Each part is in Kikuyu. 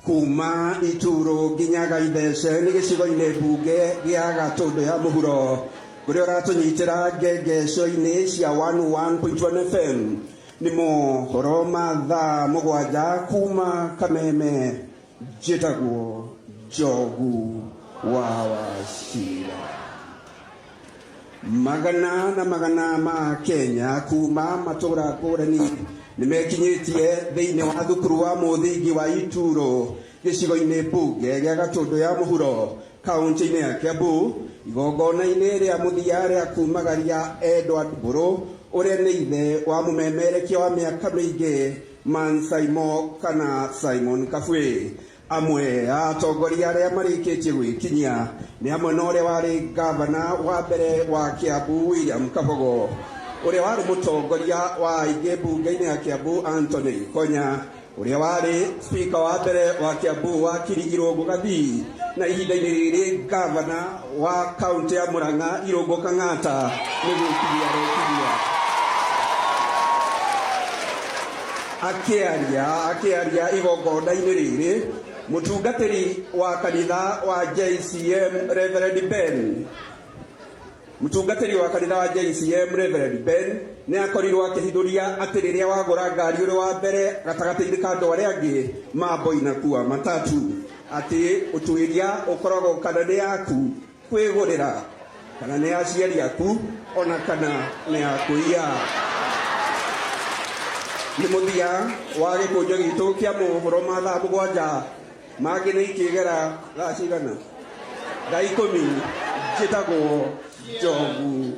kuma ituru nginya gaithece nĩ gĩcigo-inĩ mbunge gĩa gatũndũ ya mũhuro kũrĩa ũratũnyitĩra ngengeco-inĩ cia 101.1 fm nĩ mohoro ma thaa mũgwanja kuma kameme njĩtagwo njogu wa wacira Magana na magana ma Kenya kuma matũra ngũrani nĩ mekinyĩtie thĩinĩ wa thukuru wa mũthingi wa Ituro gĩcigo-inĩ mbunge gĩa Gatũndũ ya mũhuro kaunti-inĩ ya Kiambu igongona-inĩ rĩa mũthia rĩa kumagaria Edward Mbũrũ ũrĩa nĩ ithe wa mũmemerekia wa mĩaka mĩingĩ Man Saimo kana Simon Kabwe. Amwe a atongoria arĩa marĩkĩtie gwĩkinyia nĩ hamwe na ũrĩa warĩ ngavana wa mbere wa Kĩambu William Kabogo, ũrĩa warĩ mũtongoria wa aingĩ mbunge-inĩ ya Kĩambu Anthony Ikonya, ũrĩa warĩ spika wa mbere wa Kĩambu wakiri Irũngũ Gathii na ihinda-inĩ rĩrĩ ngavana wa kaũntĩ ya Mũrang'a Irũngũ Kang'ata nĩ gwĩkiria rekiria akĩaria akĩaria igongona-inĩ rĩrĩ mũtungatĩri wa kanitha wa JCM Reverend Ben mũtungatĩri wa kanitha wa JCM Reverend Ben nĩ akorirwo akĩhithũria atĩ rĩrĩa wagũra ngari ũrĩ wa mbere gatagatĩ-inĩ ka andũ arĩa angĩ mambo inakua matatu Atĩ ũtuĩria ũkoragwo kana nĩ yaku kwĩgũrĩra, kana nĩ ya aciari aku, o na kana nĩ ya kũiya. Nĩ mũthia wa gĩkũnjo gitũ kĩa mohoro ma thaa mũgwanja. Mangĩ nĩ ikĩgera thaa cigana? Thaa ikũmi. Njĩtagwo Njogu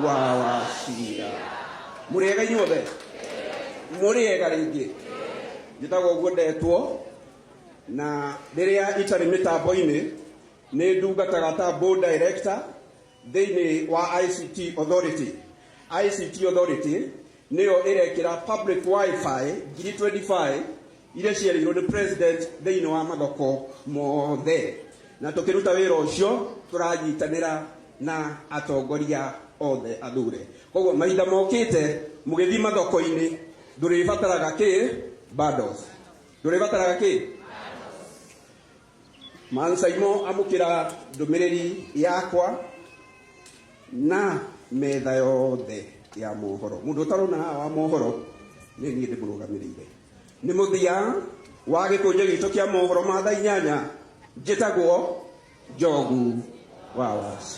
wa Wachira. Mũrĩega inyuothe? Mũrĩega rĩngĩ? Njĩtagwo ũguo ndetwo. na rĩrĩa itarĩ mĩtambo-inĩ nĩ ndungataga ta board director thĩinĩ wa ICT Authority. ICT Authority nĩyo ĩrekĩra public wifi ngiri 25 iria ciarĩirwo nĩ president thĩinĩ wa mathoko mothe, na tũkĩruta wĩra ũcio tũranyitanĩra na atongoria othe athure. Koguo mahinda mokĩte mũgĩthiĩ mathoko-inĩ ndũrĩbataraga kĩ bundles. ndũrĩbataraga kĩ mansaimo amũkĩra ndũmĩrĩri yakwa na metha yothe ya mohoro mũndũ ũtarona haha wa mohoro nĩ niĩ ndĩmũrũgamĩrĩire nĩ mũthia wa gĩkũnjĩ gitũ kĩa mohoro ma thaa inyanya njĩtagwo njogu wa waci